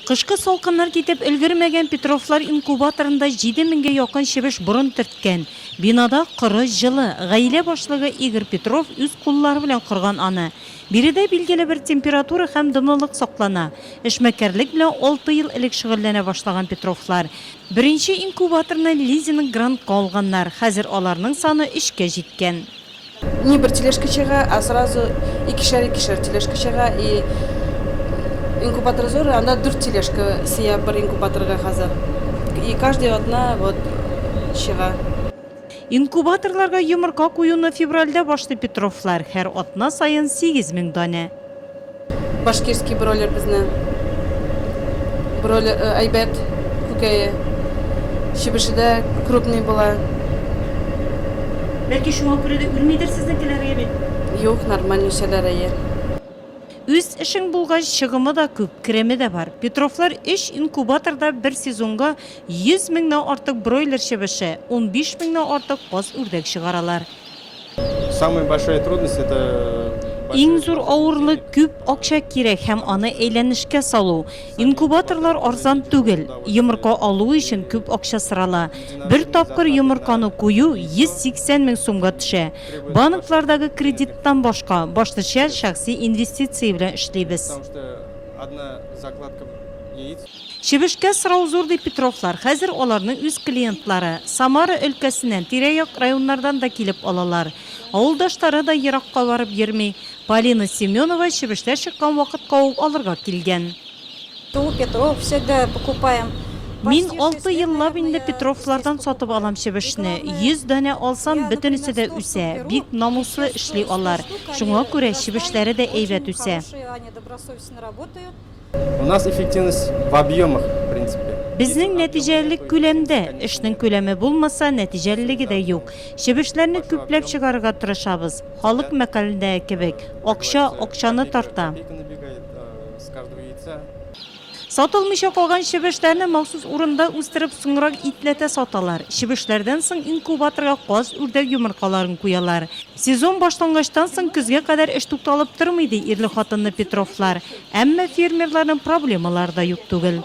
Кышкы салкыннар китеп өлгермәгән Петровлар инкубаторында җиде меңгә якын чебеш борын төрткән. Бинада коры, җылы. Гаилә башлыгы Игорь Петров үз куллары белән корган аны. Биредә билгеле бер температура һәм дымлылык саклана. Эшмәкәрлек белән алты ел элек шөгыльләнә башлаган Петровлар. Беренче инкубаторны лизинг-грантка алганнар, хәзер аларның саны өчкә җиткән. Не бер тележка чыга, а сразу икешәр-икешәр тележка чыга и инкубатор зур, анда дүрт тележка сыя бер инкубаторга хәзер. И каждый атна вот чыга. Инкубаторларга йомырка куюны февральдә башлый Петровлар, һәр атна саен сигез мең данә. Башкирский бройлер безне бройлер әйбәт күкәе. Чебеше дә крупный була. Бәлки шуңа күрә дә үлмидер сезнекеләр, әйе бит? Юк, нормаль үсәләр, әйе. Үз эшең булгач, чыгымы да күп, кереме дә бар. Петровлар өч инкубаторда бер сезонга 100 меңнән артык бройлер чебеше, унбиш меңнән артык каз-үрдәк чыгаралар. Иң зур авырлык, күп акча кирәк һәм аны әйләнешкә салу. Инкубаторлар арзан түгел. Йомырка алу өчен күп акча сорала. Бер тапкыр йомырканы кую 180 мең сумга төшә. Банклардагы кредиттан башка, башлыча шәхси инвестиция белән эшлибез. Чебешкә сорау зур, ди Петровлар. Хәзер аларны үз клиентлары, Самара өлкәсеннән, тирә-як районнардан да килеп алалар. Авылдашлары да еракка барып йөрми. Полина Семенова чебешләр чыккан вакытка ук алырга килгән. Мин алты еллап инде Петровлардан сатып алам чебешне. Йөз данә алсам, бөтенесе дә үсә. Бик намуслы эшли алар. Шуңа күрә чебешләре дә әйбәт үсә. У нас эффективность в объемах, в принципе. Безнең нәтиҗәлелек күләмдә. Эшнең күләме булмаса, нәтиҗәлелеге дә юк. Чебешләрне күпләп чыгарырга тырышабыз. Халык мәкалендәге кебек, акча акчаны тарта. Сатылмыйча калган чебешләрне махсус урында үстереп, соңрак итләтә саталар. Чебешләрдән соң инкубаторга каз, үрдәк йомыркаларын куялар. Сезон башлангачтан соң көзгә кадәр эш тукталып тормый, ди ирле-хатынлы Петровлар. Әмма фермерларның проблемалары да юк түгел.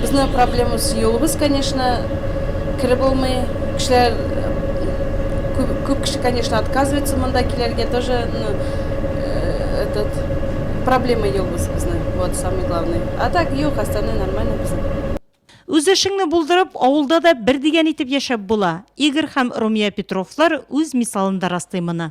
Безнең проблемабыз юлыбыз, конечно, кереп булмый. Кешеләр күп кеше, конечно, отказывается монда килергә тоже, ну, этот, проблема юлыбыз безнең, вот самый главный. А так юк, остальное нормально безнең. Үз эшеңне булдырып, авылда да бер дигән итеп яшәп була. Игорь һәм Румия Петровлар үз мисалында раслый моны.